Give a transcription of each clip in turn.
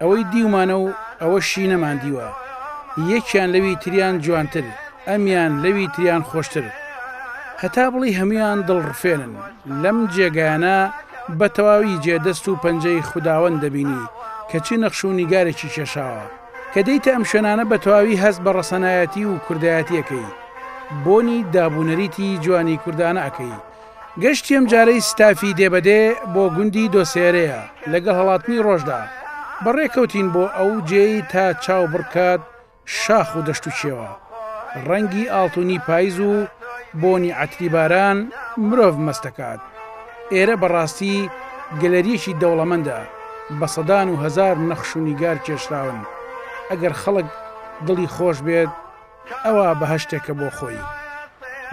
ئەوەی دیومانە و ئەوەشی نەماندیوە یەکیان لەوی تریان جوانتر ئەمیان لەوی تریان خۆشتر هەتا بڵی هەمویان دڵڕفێنن لەم جێگایانە بە تەواوی جێ دەست و پەنجەی خوداوەند دەبینی کە چی نەخش و نیگارێکی کێشاوە کە دێیتە ئەم شوێنانە بە تەواوی هەست بە ڕەسەنایەتی و کوردایەتیەکەی بۆنی دابونەریتی جوانی کوردانە ئەکەی گەشتی ئەم جارەی ستافی دێ بە دێ بۆ گوندی دۆسێرێە لەگەڵ هەڵاتنی ڕۆژدا بە ڕێ کەوتین بۆ ئەو جێی تا چاو بڕکات شاخ و دەشت و چێوە ڕەنگی ئاڵتونی پایز و بۆنی عەتری باران مرۆڤ مەستەکات ئێرە بە ڕاستی گەلەریەکی دەوڵەمەندە بە سەدان و هەزار نەخش و نیگار کێشراون ئەگەر خەڵک دڵی خۆش بێت ئەوە بەهەشتێکە بۆ خۆی.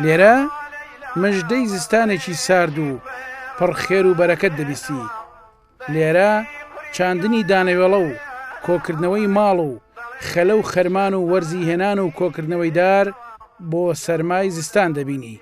لێرە مژدەی زستانێکی سارد و پڕ خێر و بەرەکەت دەبیستی. لێرە چاندنی دانەوێڵە و کۆکردنەوەی ماڵ و خەلە و خەرمان و وەرزی هێنان و کۆکردنەوەی دار بۆ سەرمای زستان دەبینی.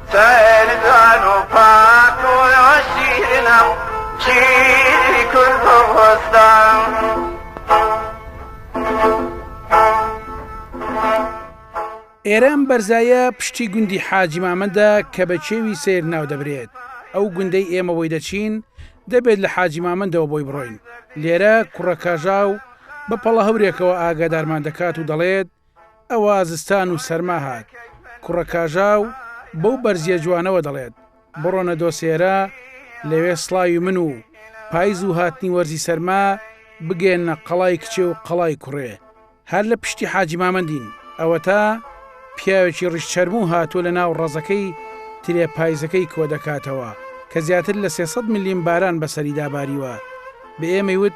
ئێرە ئەم بەرزایە پشتی گوندی حاجی مامەندە کە بە کێوی سیر ناودەبرێت ئەو گوندەی ئێمە بۆی دەچین دەبێت لە حاجی مامەندەوە بۆی بڕۆین لێرە کوڕە کاژاو بە پەڵە هەورێکەوە ئاگادارمان دەکات و دەڵێت ئەوا زستان و سەرما هات. کوڕە کاژاو بەو بەرزییە جوانەوە دەڵێت، بڕۆنە دۆسێرە، لەوێ سڵاوی من و پایز و هاتنی وەرزی سەرما بگەیەننە قەڵای کچێ و قەڵای کوڕێ. هەر لە پشتی حاجی مامەندین. ئەوەتا پیاوێکی ڕیشچەرموو هاتووە لە ناو ڕەزەکەی ترێ پایزەکەی کۆ دەکاتەوە، کە زیاتر لە سێ سەد ملیم باران بەسەریدا باریوە. بە ئێمەی وت.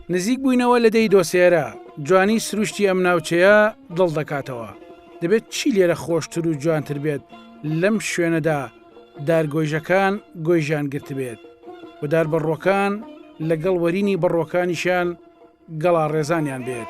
نزیک بووینەوە لە دێی دۆسێرە، جوانی سروشتی ئەم ناوچەیە دڵ دەکاتەوە. دەبێت چی لێرە خۆشتر و جوانتر بێت لەم شوێنەدا دارگۆیژەکان گۆیژیان گرتبێت و دار بەڕووەکان لەگەڵ وەرینی بەڕووەکانیشیان گەڵاڕێزانیان بێت.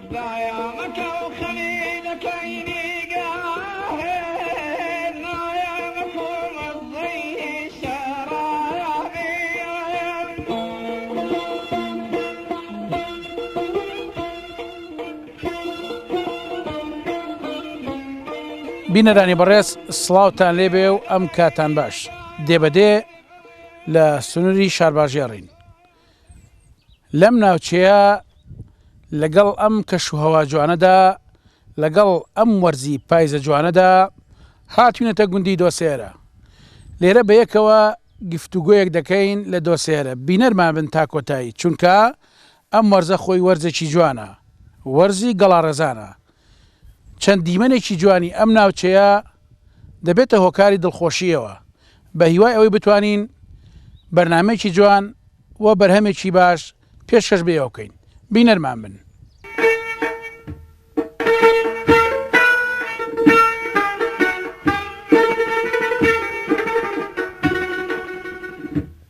بینەرانی بەڕێز سڵاوتان لێبێ و ئەم کاتان باش دێبەدێ لە سنووری شارباژێڕین لەم ناوچەیە لەگەڵ ئەم کەش و هەوا جوانەدا لەگەڵ ئەم وەرزی پایزە جوانەدا هاتوینەتە گوندی دۆسێرە لێرە بەیەکەوە گفتوگۆیەک دەکەین لە دۆسێرە بینەرمان بن تا کۆتایی چونکە ئەم وەرزە خۆی وەرزێکی جوانە وەرزی گەڵاڕێزانە چەند دیمەنێکی جوانی ئەم ناوچەیە دەبێتە هۆکاری دڵخۆشییەوە، بەهیوای ئەوەی بتوانین بەرنامەیەکی جوان و بەرهەمێکی باش پێشکەش بە ئێوە بکەین، بینەرمان بن.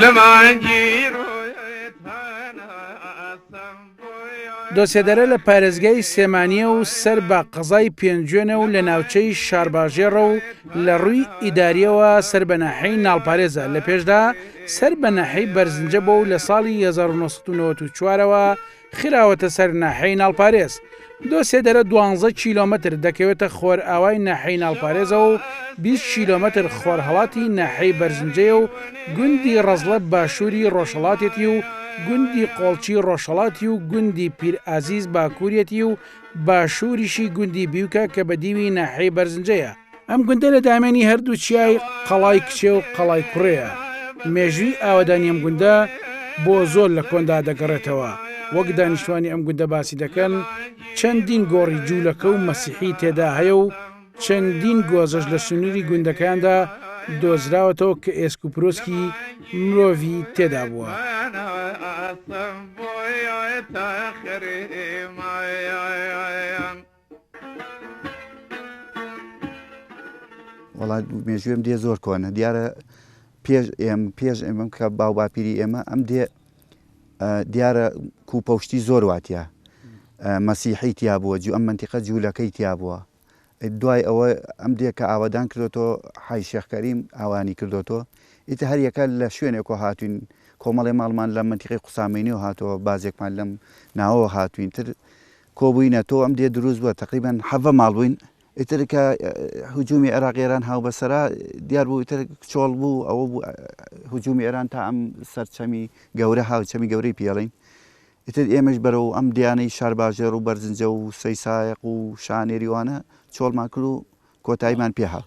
لە مانگی ڕۆیت هەناسەم دۆسێدەرە لە پارێزگای سێمانیە و سەر بە قەزای پێنجوێنە و لە ناوچەی شارباژێڕە و لە ڕووی ئیداریەوە سەر بە ناحەی ناڵپارێزە لە پێشدا سەر بە ناحەی بەرزنجە بۆ و لە ساڵی 1994ەوە خراوەتە سەر ناحیەی ناڵپارێز. دو سێدەرە دوانزە کیلۆمەتر دەکەوێتە خۆرئاوای ناحیەی ناڵپارێزەوە و بیست کیلۆمەتر خۆرهەڵاتی ناحیەی بەرزنجەیە و گوندی ڕەزڵە باشووری ڕۆژهەڵاتێتی و گوندی قۆڵچی ڕۆژهەڵاتی و گوندی پیرئازیز باکووریەتی و باشووریشی گوندی بیوکە کە بەدیوی ناحیەی بەرزنجەیە. ئەم گوندە لە دامێنی هەردوو چیای قەڵای کچێ و قەڵای کوڕەیە مێژووی ئاوادانی ئەم گوندە بۆ زۆر لە کۆندا دەگەڕێتەوە وەک دانیشتوانی ئەم گوندە باسی دەکەن چەندین گۆڕی جوولەکە و مەسیحی تێدا هەیە و چەندین گۆزەش لە سنووری گوندەکاندا دۆزراوەتەوە کە ئێسک و پرۆسکی مرۆڤی تێدا بووە. وەڵا مێژوێم دێ زۆر کۆنە دیارە پێش ئێم پێش ئێمەم کە باو باپیری ئێمە ئەم دێ دیارە کوپەشتی زۆر واتە مەسیحی تیا بووە جو ئەم منتیقە جوولەکەی تیا بووە دوای ئەوە ئەم دێکە ئاوادان کردۆتۆ حای شێخکەریم ئاوانی کردۆتۆ ئیتە هەریەکە لە شوێنێکۆ هاتوین کۆمەڵی ماڵمان لە منتیقی قوسامینی و هاتەوە بازێکمان لەم ناوەوە هاتوین تر کۆبوینە تۆ ئەم دێ دروست بوە تەقریبەن حەڤە ماڵ بوین ئیتر کە هجومی عێراق ئێران هاوبەسەرا دیار بوو ئیتر چۆڵ بوو ئەوە بوو هجومی ئێران تا ئەم سەرچەمی گەورە هاوچەمی گەورەی پێڵین ئیتر ئێمەش بەرەوە ئەم دیانەی شارباژێڕ و بەرزنجە و سەیسایق و شانێریوانە چۆڵمان کرد و کۆتاییمان پێهاو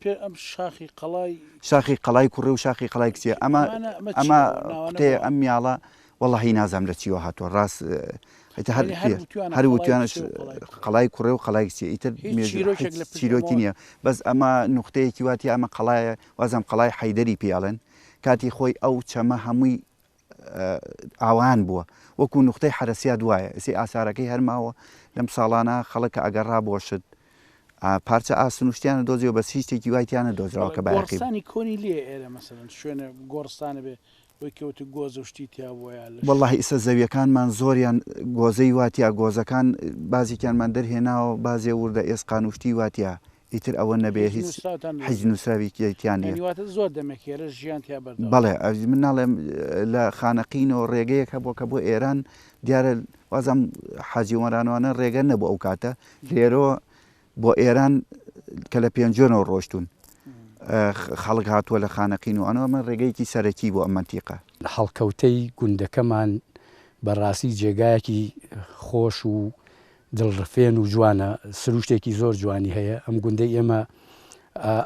پێ ئەم شاخی قەڵای. شاخی قەڵای کوڕێ و شاخی قەڵای کچێ ئەمە ئەمە قوتەیە ئەم میاڵە وەڵی نازام لە چیوە هاتووە ڕاست هەر وتوانش قەڵای کوڕێ و قەڵای کچێ ئیتر چیرۆکی نییە بەس ئەمە نقطەیەکی واتی ئەمە قەڵایە وازم قەڵای حیدەری پیاڵن کاتی خۆی ئەو چەمە هەمووی ئاوایان بووە وەکو نوختەی حەرەسیات وایە ئێسەی ئاسارەکەی هەر ماوە لەم ساڵانە خەڵک کە ئەگەڕا بۆ شت پارچە ئاسن و شتیانە دۆزیەوە بەس هیچ شتێکی وای تیانە دۆزراوە کە بایەخی گۆڕستانی کۆنی لێ ئێرە مەسەلەن شوێنە گۆڕستانە بێ وەی کە وتی گۆزە و شتی تیا بووە یا لەش وەڵڵاهی ئیسە زەویەکانمان زۆریان گۆزەی واتیا گۆزەکان بازێکیانمان دەرهێناوە بازێ وردە ئێسقان و شتی واتیا ئیتر ئەوە نەبێ هیچ حیچ نوسراویکی تیا نیە یانی واتە زۆر دەمێک هێرش ژیان تیا بەردەوام بەڵێ ئەوی من ناڵێم لە خانەقینەوە ڕێگەیەک هەبووە کە بۆ ئێران دیارە وازم حاجی وەرانوانە ڕێگە نەبوو ئەو کاتە لێرەوە بۆ ئێران کە لە پێنجۆنەوە ڕۆشتون خەڵک هاتووە لە خانەقین و ئەنەوە من ڕێگەیەکی سەرەکی بۆ ئەم منتیقە هەڵکەوتەی گوندەکەمان بەڕاستی جێگایەکی خۆش و دڵ ڕفێن و جوانە سروشتێکی زۆر جوانی هەیە ئەم گوندەی ئێمە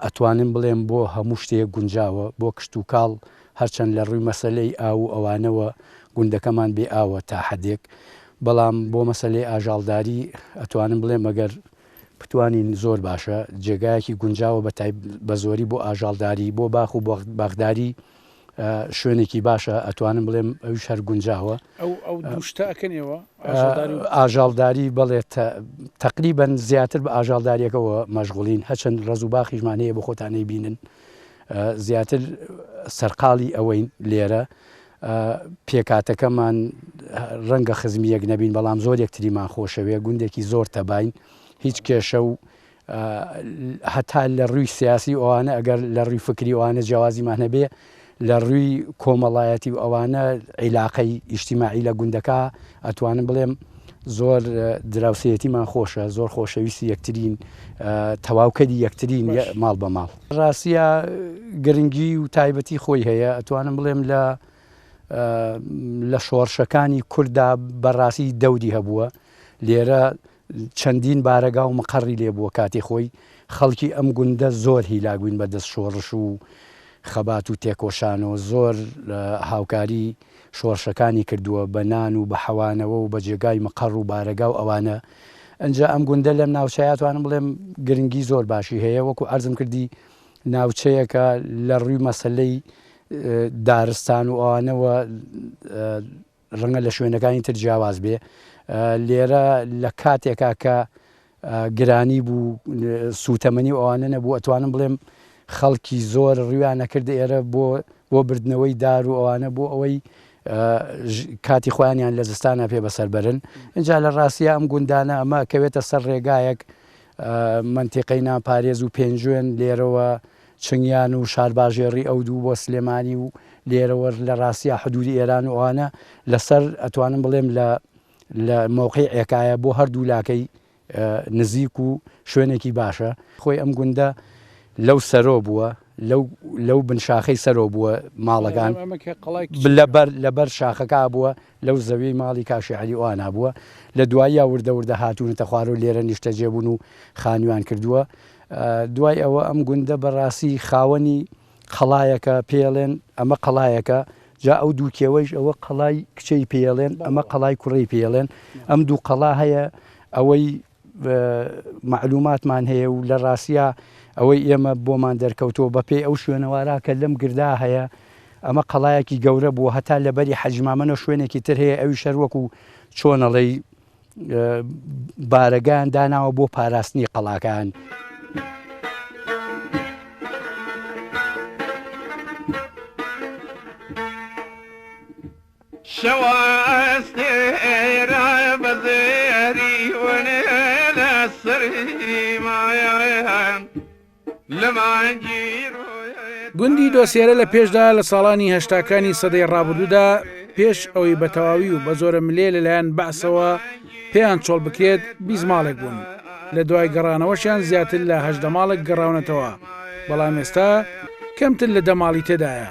ئەتوانم بڵێم بۆ هەموو شتێک گونجاوە بۆ کشت و کاڵ هەرچەند لە ڕووی مەسلەی ئاو و ئەوانەوە گوندەکەمان بێ ئاوە تا حدێک بەڵام بۆ مەسلەی ئاژاڵداری ئەتوانم بڵێ مەگەر بتوانین زۆر باشە جێگایەکی گونجاوە بە بە زۆری بۆ ئاژاڵداری بۆ باخ و بەغداری شوێنێکی باشە ئەتوانم بڵێم ئەوش هەر گونجاوە ئاژاڵداری بڵێت تقریبن زیاتر بە ئاژاڵداریەکەەوە مەژغولین هەچەند ڕز و باخیشمان هەیە بە خۆتانەی بینن زیاتر سەرقاڵی ئەوەین لێرە پێکاتەکەمان ڕەنگە خزمیەک نەبین بەڵام زۆر یەکتریمان خۆشەوێ گوندێکی زۆر تەبین هیچ کێشە و هەتا لە ڕووی سیاسی ئەوانە ئەگەر لە ڕووی فکری ئەوانە جیاوازیمان هەبێ لە ڕووی کۆمەڵایەتی و ئەوانە عیلاقەی ئیشتیماعی لە گوندەکە ئەتوانم بڵێم زۆر دراوسەتیمان خۆشە زۆر خۆشەویستی یەکترین تەواوکەری یەکترین ماڵ بە ماڵ ڕاستە گرنگی و تایبەتی خۆی هەیە ئەتوانم بڵێم لە لە شۆڕشەکانی کووردا بەڕاستی دەودی هەبووە لێرە چەندین بارەگا و مقەڕی لێ بووە، کاتی خۆی خەڵکی ئەم گوندە زۆر هیلاک بووین بە دەست شۆڕش و خەبات و تێکۆشانەوە، زۆر هاوکاری شۆڕشەکانی کردووە بە نان و بە حەوانەوە و بە جێگای مقەڕ و بارەگا و ئەوانە، ئنجا ئەم گوندە لەم ناوچەیا توانم بڵێم گرنگی زۆر باشی هەیە، وەکو عەرزم کردی ناوچەیەکە لە ڕووی مەسەلەی دارستان و ئەوانەوە، ڕەنگە لە شوێنەکانی تر جیاواز بێ لێرە لە کاتێکا کە گرانی بوو سووتەمەنی ئەوانە نەبوو ئەتوانم بڵێم خەڵکی زۆر ڕویانە کرد ئێرە بۆ بۆ بردنەوەی دار و ئەوانە بۆ ئەوەی کاتی خۆیانیان لە زستانە پێ بەسەربرن اینجا لە ڕاستە ئەم گوندانە ئەمە کەوێتە سەر ڕێگایەک منتیقەی ناپارێز و پێنجوێن لێرەوە چنگیان و شارباژێڕی ئەو دوو بۆ سلێمانی و لێرەوە لە ڕاستیا حدوودی ئێران و ئەوانە لە سەر ئەتوانم بڵێم لە لە مەوقەی عێکایە بۆ هەر دوو لاکەی نزیک و شوێنێکی باشە خۆی ئەم گوندە لەو سەرۆ بووە لەو لەو بن شاخەی سەرۆ بووە ماڵەکان لەبەر لەبەر شاخەکە بووە لەو زەویەی ماڵی کاشی عەلی ئۆانا بووە، لە دواییا وردە وردە هاتوونەتە خوارەو لێرە نیشتەجێ بوون و خانوویان کردووە. دوای ئەوە ئەم گوندە بە ڕاستی خاوەنی قەڵایەکە، پێیەڵێن ئەمە قەڵایەکە، جا ئەو دوو کێوەیش ئەوە قەڵای کچێی پێیەڵێن، ئەمە قەڵای کوڕێی پێیەڵێن. ئەم دوو قەڵا هەیە ئەوەی. مەعلووماتمان هەیە و لە ڕاستیا ئەوەی ئێمە بۆمان دەرکەوتەوە بەپێی ئەو شوێنەوارە کە لەم گردا هەیە ئەمە قەڵایەکی گەورە بووە هەتا لەبەری حەجمامەەوە شوێنێکی تر هەیە ئەوی شەروەک و چۆنەڵی بارەگان داناوە بۆ پاراستنی قەڵاکان. شەوە ئەستێرە بە زێری ون لە سریمایان لە مانگی گوندی دۆسێرە لە پێشدا لە ساڵانی هەشتاکانی سەدەی ڕابردوودا پێش ئەوەی بە تەواوی و بە زۆرە ملێ لەلایەن بەعسەوە پێیان چۆڵ بکرێت بیزماڵێک بوون لە دوای گەڕانەوەشیان زیاتر لە هەشدە ماڵک گەڕاونەتەوە بەڵام ئێستا کەمتر لە دەماڵی تێدایە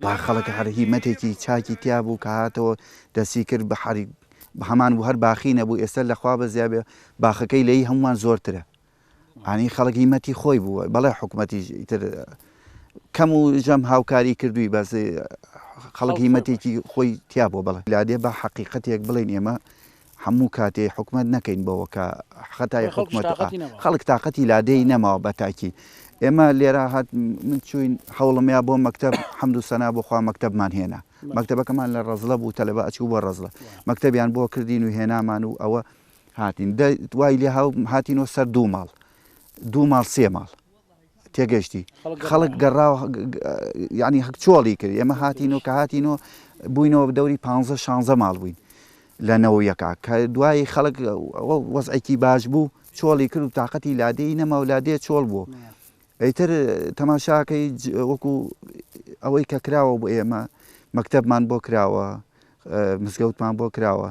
با خەڵک هەر هیمەتێکی چاکی تیا بوو کە هاتەوە دەستی کرد بە حەری هەمان بوو هەر باخی نەبوو ئێستا لە خوا بەزیا بێ باخەکەی لەی هەمووان زۆرترە ئانی خەڵک هیمەتی خۆی بوو بەڵێ حکوومەتی تر کەم و ژەم هاوکاری کردووی بەس خەڵک هیمەتێکی خۆی تیا بۆ بڵێ لادێ بە حەقیقەتێک بڵێن ئێمە هەموو کاتێ حکومەت نەکەین بەوە کە خەتای حکومەت خەڵک تااقەتی لادێی نەماوە بە تاکی ئێمە لێرا هات من چوین حوڵمیا بۆ مەکتب حەمد و سەنا بۆخوا مەکتبمان هێنا مەکتبەکەمان لە ڕزلە بوو تەلەبە ئەچوو بۆ ڕزلە مەکتبیان بۆ کردین و هێنامان و ئەوە هاتین دوای لێ هاتینەوە سەر دوو ماڵ دوو ماڵ سێ ماڵ تێگەشتی خەڵک گەڕاو یانی هەک چۆڵی کرد ئێمە هاتین و کە هاتین و بووینەوە بدەوری پ شانزە ماڵ بووین لە نەوەیەکە کە دوایی خەڵک وەزعێکی باش بوو چۆڵی کرد و تااقەتی لادێی نەما و لادێ چۆڵ بوو ئەیتر تەماشاکەی وەکو ئەوەی کە کراوە بۆ ئێمە مەکتەبمان بۆ کراوە مزگەوتمان بۆ کراوە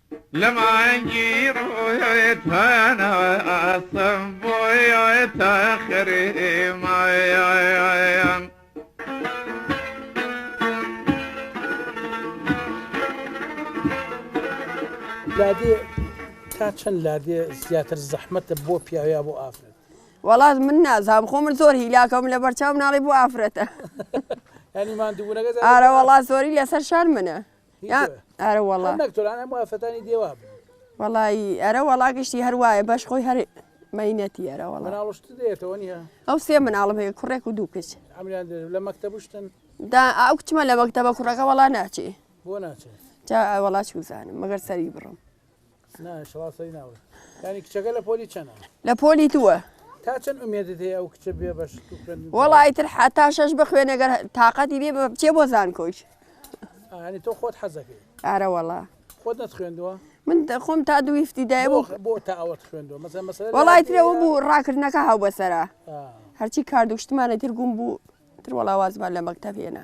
لە مانگی ڕۆیت هەناسەم بۆیتە خریمایان لادێ تا چەند لادێ زیاتر زەحمەتە بۆ پیاویا بۆ ئافرەت وڵات من نازام خۆ من زۆر هیلاکەم لە بەرچاو ناڵی بۆ ئافرەتە ئەنیمان دوورەگە ئارە وڵات زۆری لەسەر شار منە ئەرە وەڵا نەکتۆران هەموو ئافەتانی دێوا بن وەڵی ئەرە وەڵا گشتی هەر وایە بەش خۆی هەر مەینەتی ئەرە وەڵا ناڵشت دێتەوە نیە ئەو سێ مناڵم هەیە کوڕێک و دوو کچ ئەمریان لە مەکتەبشتن دا ئەو کچمە لە مەکتەبە کوڕەکە وەڵا ناچێ بۆ ناچێت جا وەڵا چوزانم مەگەر سەری بڕم لە پۆلی دووە وەڵا ئیتر حتا شەش بخوێنەگەر تااقەتی بێ بچێ بۆ زان کۆچ تۆ خۆت حەزەکەی ئارە وەڵا خۆت خوێندووە من خۆم تا دوویفتی دای وەڵای ترەوە بوو ڕاکردنەکە هاو بەسرە هەرچی کاردوشتمانە تر گوم بوو تر وەڵاوازمان لە مەکتەبێنە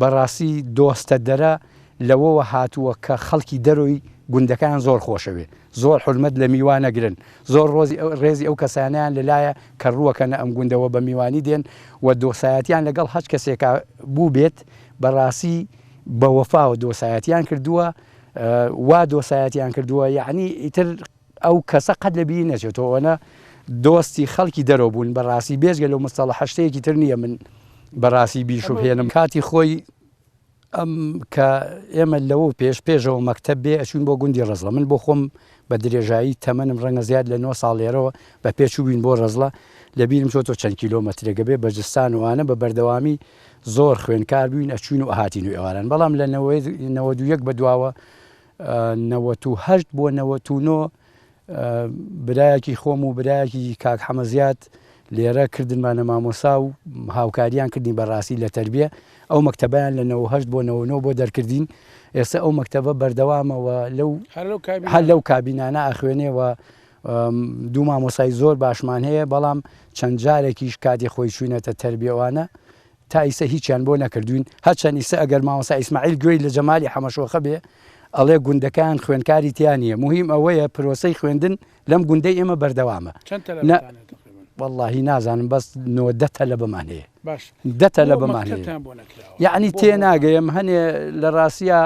بەڕاستی دۆستە دەرە لەوەوە هاتووە کە خەڵکی دەرۆی گوندەکەیان زۆر خۆشەوێ زۆر حورمەت لە میوان ئەگرن زۆر ڕۆزی ڕێزی ئەو کەسانەیان لە لایە کە ڕووەکەنە ئەم گوندە وە بە میوانی دێن وە دۆسایەتیان لە گەڵ هەچ کەسێکا بووبێت بەڕاسی بە وەفاوە دۆسایەتیان کردووە وا دۆسایەتیان کردووە یەعنی ئیتر ئەو کەسە قەت لە بیری نەچێتۆ ئەوەنە دۆستی خەڵکی دەرەوە بوون بە ڕاستی بێژگە لەو مستەڵە هەشتەیەکی تر نییە من بە ڕاستی بیرشو هێنم کاتی خۆی ئەم کە ئێمە لەوە پێش پێشەوە مەکتب بێ ئەچوین بۆ گوندی ڕزڵە من بۆ خۆم بە درێژایی تەمەنم ڕەنگە زیاد لە 9 ساڵێرەوە بە پێچووین بۆ ڕزڵە لە بیرم چۆتۆ چەند کیلۆمەترێگە بێ بەجستان وانە بە بەردەوامی زۆر خوێنکار بووین ئەچوین و هاتین و ئێواران بەڵام لە نەوە دوویەک بە دواوە نەوەت و هەشت بۆ نەوەت و نۆ برایەکی خۆم و برایەکی کاک حەمە زیاد لێرە کردنمانە مامۆسا و هاوکاریان کردین بەڕاستی لە تربیە ئەو مەکتتەبیان لە 98 بۆ 99 بۆ دەرکردین ئێستا ئەو مەکتتەبە بەردەوامەوە لەو هەر لەو کابینانە ئاخوێنێەوە دوو مامۆسای زۆر باشمان هەیە بەڵام چەند جارێکیش کاتی خۆی چوینەتە تربیەوانە تا ئیسە هیچیان بۆ نەکردوین هەرچەن ئیسە ئەگەر مامۆستا ئیسماعیل گوێی لە جەمالی حەمەشۆخە بێ ئەڵێ گوندەکان خوێندکاری تیا نیە موهیم ئەوەیە پرۆسەی خوێندن لەم گوندەی ئێمە بەردەوامە چەند تەلەبەتان هەیە تقریبا؟ واللهی نازانم بەس نۆ دە تەلەبەمان هەیە باش دە تەلەبەمان هەیە مەکتەبتان بۆ نەکراوە یعنی بۆ تێ هەمووان؟ ناگەیم هەنێ لە ڕاستیە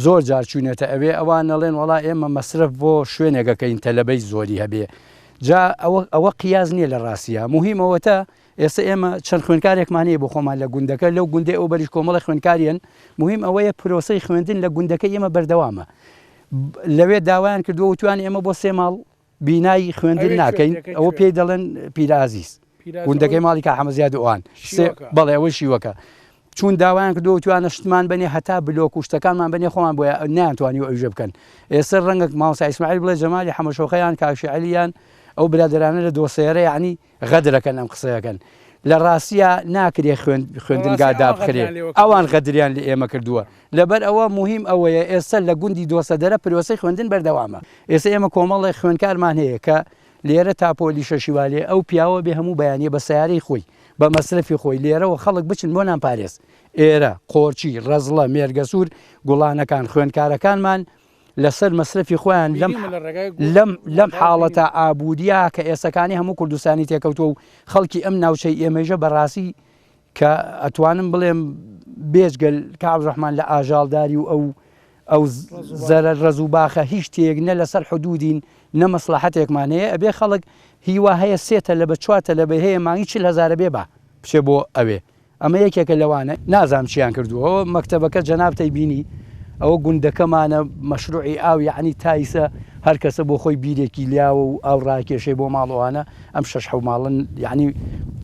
زۆر جار چوونەتە ئەوێ ئەوان نەڵێن وڵا ئێمە مەسرف بۆ شوێنێکەکەین تەلەبەی زۆری هەبێ جا ئەوە ئەوە قیاز نییە لە ڕاستیە مهمەوەتە ئێستا ئێمە چەند خوێندکارێکمان هەیە بۆ خۆمان لە گوندەکە، لەو گوندەی ئەو بەریش کۆمەڵێ خوێندکار هەن، موهیم ئەوەیە پرۆسەی خوێندن لە گوندەکەی ئێمە بەردەوامە، لەوێ داوایان کردووە وتویان ئێمە بۆ سێ ماڵ بینای خوێندن ناکەین، ئەوە پێی دەڵێن پیرە ئازیز، گوندەکەی ماڵی کاک حەمە زیاد و ئەوان، بەڵێ ئەوەی شیوەکە، چوون داوایان کردووە وتویانە شتمان بەنێ هەتا بلۆک و شتەکانمان بەنێ خۆمان بۆ نەیانتوانیوە ئەویژە بکەن، ئێستا ڕەنگە مامۆستا ئیسماعیل بڵێ جەمالی حەمەشۆخەیان کاک شێعەلیان ئەو برادەرانە لە دۆسێرە یەعنی غەدرەکەن ئەم قسەیەکەن لە ڕاستیا ناکرێ خوێندنگا دابخرێ ئەوان غەدریان لە ئێمە کردووە لەبەر ئەوە مهم ئەوەیە ئێستا لە گوندی دۆسەدەرە پرۆسی خوێندن بەردەوامە ئێستا ئێمە کۆمەڵی خوێنکارمان هەیە کە لێرە تاپۆلی شەشیوالێ ئەو پیاوە بێ هەموو بەیانە بە سیارەی خۆی بە مەسرفی خۆی لێرەوە خەڵک بچن بۆ نان پارێز ئێرە قۆرچی ڕەزڵە مێرگەسوور گوڵانەکان خوێنکارەکانمان لەسەر مەسرەفی خۆیان لەم لەم لەم حاڵەتە ئابووریە کە ئێسەکانی هەموو کوردستانی تێکەوتوە و خەڵکی ئەم ناوچەی ئێمەژە بەڕاستی کە ئەتوانم بڵێم بێجگەل کاڵ ڕحمان لە ئاژاڵداری و ئەو ئەو زەرە ڕز و باخە هیچ تێک نە لەسەر حدودین نە مەسلحەتێکمان هەیە ئەبێ خەڵک هیوا هەیە سێتە لە بە چواتە لە بە هەیە مانگی چل هزارە بێ بە بچێ بۆ ئەوێ ئەمە یەکێکە لەوانە نازام چیان کردووە ئەوە مەکتەبەکە جەنابتەی بینی ئەوە گوندەکەمانە مەشروعی ئاو یعنی تایسە هەر کەسە بۆ خۆی بیرێکی لیاوە و ئاو ڕاکێشەی بۆ ماڵەوانە ئەم شش حو ماڵن یعنی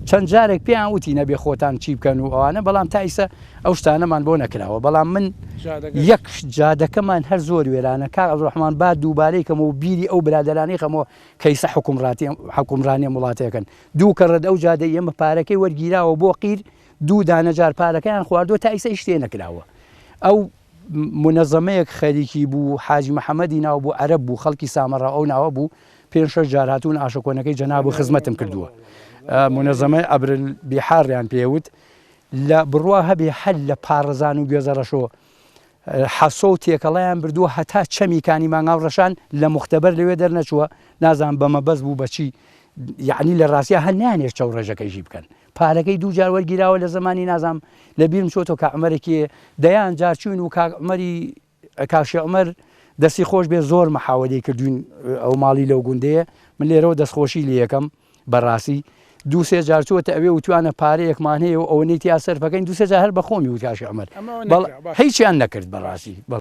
چەند جارێک پێیان وتی نەبێ خۆتان چی بکەن و ئەوانە بەڵام تایسە ئەو شتانەمان بۆ نەکراوە بەڵام من یەک جادەکەمان هەر زۆر وێرانە کار ئەڵڕحمان با دووبارەی کەمەوە بیری ئەو برادرانەی خەمەوە کەیسە حکومڕاتی حکومڕانیە وڵاتەکەن دوو کەڕەت ئەو جادەی ئێمە پارەکەی وەرگیراوە بۆ قیر دوو دانە جار پارەکەیان خواردوە تا ئیسە هیچ تێنەکراوە ئەو منەزەمەیەک خەریکی بوو حاجی محەمەدی ناو بوو عەرەب بوو خەڵکی سامەڕا ئەو ناوە بوو پێنج شەش جار هاتوون ئاشەکۆنەکەی جەناب و خزمەتم کردووە منەزەمەی ئەبرل بیحاڕیان پێوت لە بڕوا هەبێ هەر لە پاڕزان و گوێزەڕەشۆ حەسۆ و تێکەڵەیان بردووە هەتا چەمی کانی مانگاو ڕەشان لە موختەبەر لەوێ دەرنەچووە نازانم بە مەبەست بوو بە چی یعنی لە ڕاستیا هەر نانێش چەو ڕێژەکەی ژی بکەن پارەکەی دوو جار وەرگیراوە لە زمانی نازام لە بیرم چۆتۆ کە عمەرێکی دەیان جار چوین و کاک عمەری کاشی عمەر دەستی خۆش بێ زۆر مەحاوەدەی کردوین ئەو ماڵی لەو گوندەیە من لێرەوە دەستخۆشی لە یەکەم بەڕاستی دوو سێ جار چۆتە ئەوێ وتوانە پارەیەکمان هەیە و ئەوەنەی تیا سەرفەکەین دوو سێ جار هەر بەخۆمی و کاش عمر بەڵ هیچیان نەکرد بەڕاستی بەڵ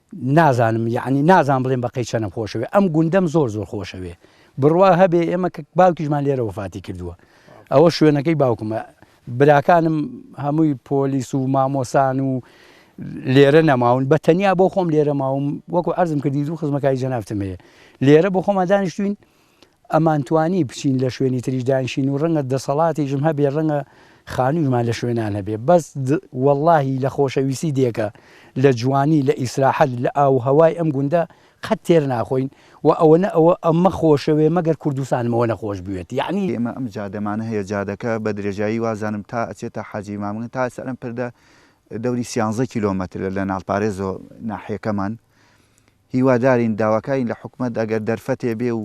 نازانم یەعنی نازانم بڵێم بەقەی چەنم خۆشەوێ ئەم گوندەم زۆر زۆر خۆشەوێ بڕوا هەبێ ئێمە کە باوکیشمان لێرە وفاتی کردووە ئەوە شوێنەکەی باوکمە براکانم هەمووی پۆلیس و مامۆسان و لێرە نەماون بە تەنیا بۆ خۆم لێرە ماوم وەکو ئەرزم کردی دوو خزمەکای جەنافتم هەیە لێرە بۆ خۆمان دانیشتوین ئەمانتوانی بچین لە شوێنی تریش دانیشین و ڕەنگە دەسەڵاتیشم هەبێ ڕەنگە خانوویشمان لە شوێنان هەبێ بەس وەڵاهی لە خۆشەویستی دێکە لە جوانی لە ئیسراحەت لە ئاووهەوای ئەم گوندە قەت تێر ناخۆین و ئەوەنە ئەوە ئەمە خۆشەوێ مەگەر کوردستانم ئەوەنە خۆش بوێت یەعنی ئێمە ئەم جادەمانە هەیە جادەکە بە درێژایی وازانم تا ئەچێتە حاجی مامگن تا سەر ئەم پردە دەوری سیانزە کیلۆمەترە لە ناڵپارێزەوە ناحیەکەمان هیوادارین داواکارین لە حکومەت ئەگەر دەرفەتێ بێ و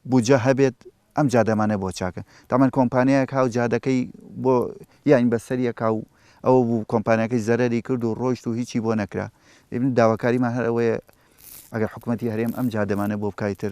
بودجە هەبێت ئەم جادەمانە بۆ چاکە تەمان کۆمپانیایەک هاو جادەکەی بۆ یانی بەسەریە کاو ئەوە بوو کۆمپانیاکەی زەرەری کرد و ڕۆیشت و هیچی بۆ نەکرا ئیبن داواکاریمان هەر ئەوەیە ئەگەر حکومەتی هەرێم ئەم جادەمانە بۆ بکای تر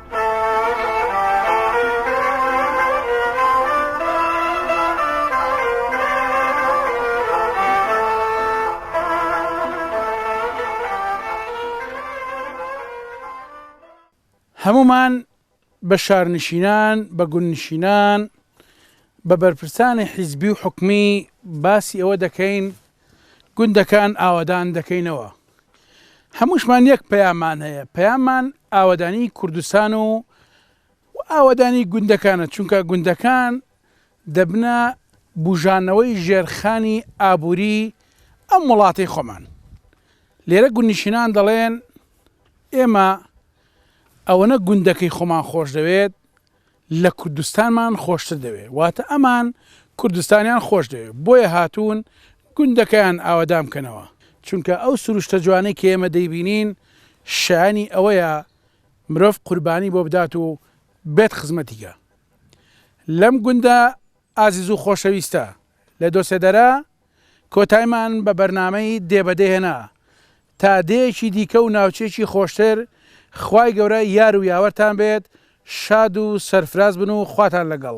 هەموومان بە شارنشینان، بە گوندنشینان، بە بەرپرسانی حیزبی و حکومی باسی ئەوە دەکەین گوندەکان ئاوەدان دەکەینەوە. هەمووشمان یەک پەیاممان هەیە، پەیاممان ئاوەدانیی کوردستان و ئاوەدانیی گوندەکانە، چونکە گوندەکان دەبنە بووژانەوەی ژێرخانی ئابووریی ئەم وڵاتەی خۆمان. لێرە گوندنشینان دەڵێن، ئێمە ئەوەنە گوندەکەی خۆمان خۆش دەوێت، لە کوردستانمان خۆشتر دەوێ واتە ئەمان کوردستانیان خۆش دەوێ بۆیە هاتوون گوندەکەیان ئاوەدان بکەنەوە چونکە ئەو سروشتە جوانەی کە ئێمە دەیبینین شایەنی ئەوەیە مرۆڤ قوربانی بۆ بدات و بێت خزمەتی گا لەم گوندە ئازیزو خۆشەویستە لە دۆسێدەرە کۆتایمان بە بەرنامەی دێ بە دێ هێنا تا دێیەکی دیکە و ناوچەیەکی خۆشتر خوای گەورە یار و یاوەرتان بێت شاد و سەرفراز بن و خواتان لەگەڵ.